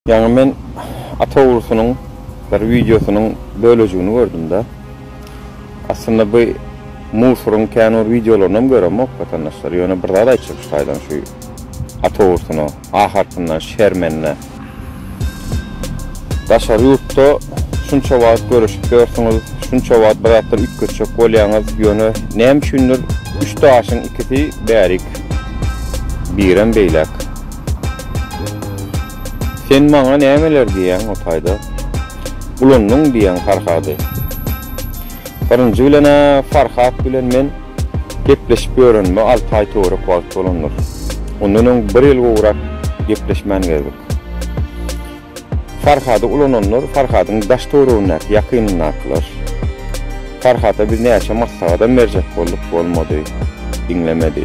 Ýaňy men awtourusynyň bir wideosynyň bölejigini gördüm-de. Aslynda bu Mursuryň kän bir wideolaryny hem göremok watandaşlar. Ýöne bir zat aýtjak şu taýdan şu awtourusyna, ahyrkynda şermende. Daşary ýurtda şunça wagt göreşip ýörsüňiz, şunça wagt bir zatlar üýtgetjek bolýaňyz, ýöne näme üçindir üç daşyň ikisi bärik, birem beýläk. Sen maňa nämeler diýýäň o taýda? Ulandyň diýýäň Farhady. Birinji bilen-ä Farhat bilen men gepleşip ýörenime alty aý töwerek wagt bolandyr. Ondan öň bir ýyl gowrak gepleşmän gezdik. Farhady ulananlar Farhadyň daş töwregindäki ýakynyndakylar. Farhada biz näçe maslahatam berjek bolduk bolmady. Diňlemedi.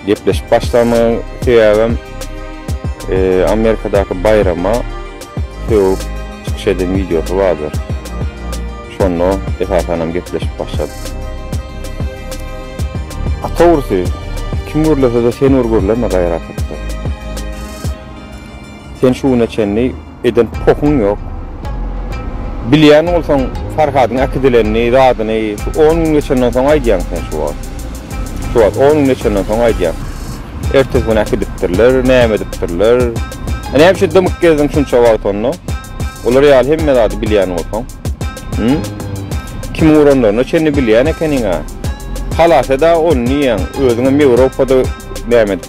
Gepleşip başlamagyň sebäbem Amerikadaky baýrama sögüp çykyş eden wideosy bardyr. Şonda esasanam gepleşip başladyk. Atawrusy kim gürlesede sen bir gürleme gaýrat etde. Sen şu güne çenli eden pohuň ýok. Bilýän bolsaň Farhadyň äkidilenini, zadyny şu on gün geçenden soň aýdýaň sen şu wagt. Şu wagt on gün geçenden soň aýdýaň. Ertesi gün äkidipdirler, näme edipdirler. A näme üçin dymyp gezdiň şunça wagt onda? Olar ýaly hemme zady bilýän bolsaň. Hum? Kimiň uranlaryna çenli bilýän ekeniň-ä. Halas-da ony diýýäň, özüňem Ýewropada näme edip.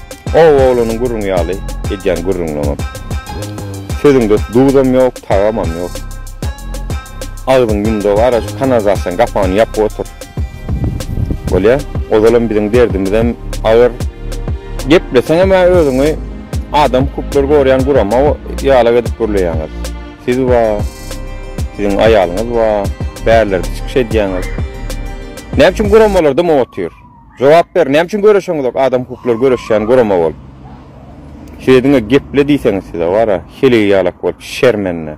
Ow oglanyň gürrüňi ýaly edýän gürrüňiňem. Sözüňde duzam ýok, tagamam ýok. Agzyň ýumdug ara şu kanalizasiýanyň gapagyny ýapyp otur. Bolýa. Ozalam biziň derdimizem agyr. Gepleseňem a özüňi adam hukuklary gorýän gurama ýalak edip gürleýäňiz. Siz ba, siziň aýalyňyz ba, bärlerde çykyş edýäňiz. Näme üçin guramalarda motyr? Jogap ber näme üçin göreşeňizok adam hukuklary göreşýän gurama bolup şeýdiňä geple diýseňiz size wara heleýi ýalak bolup şermende.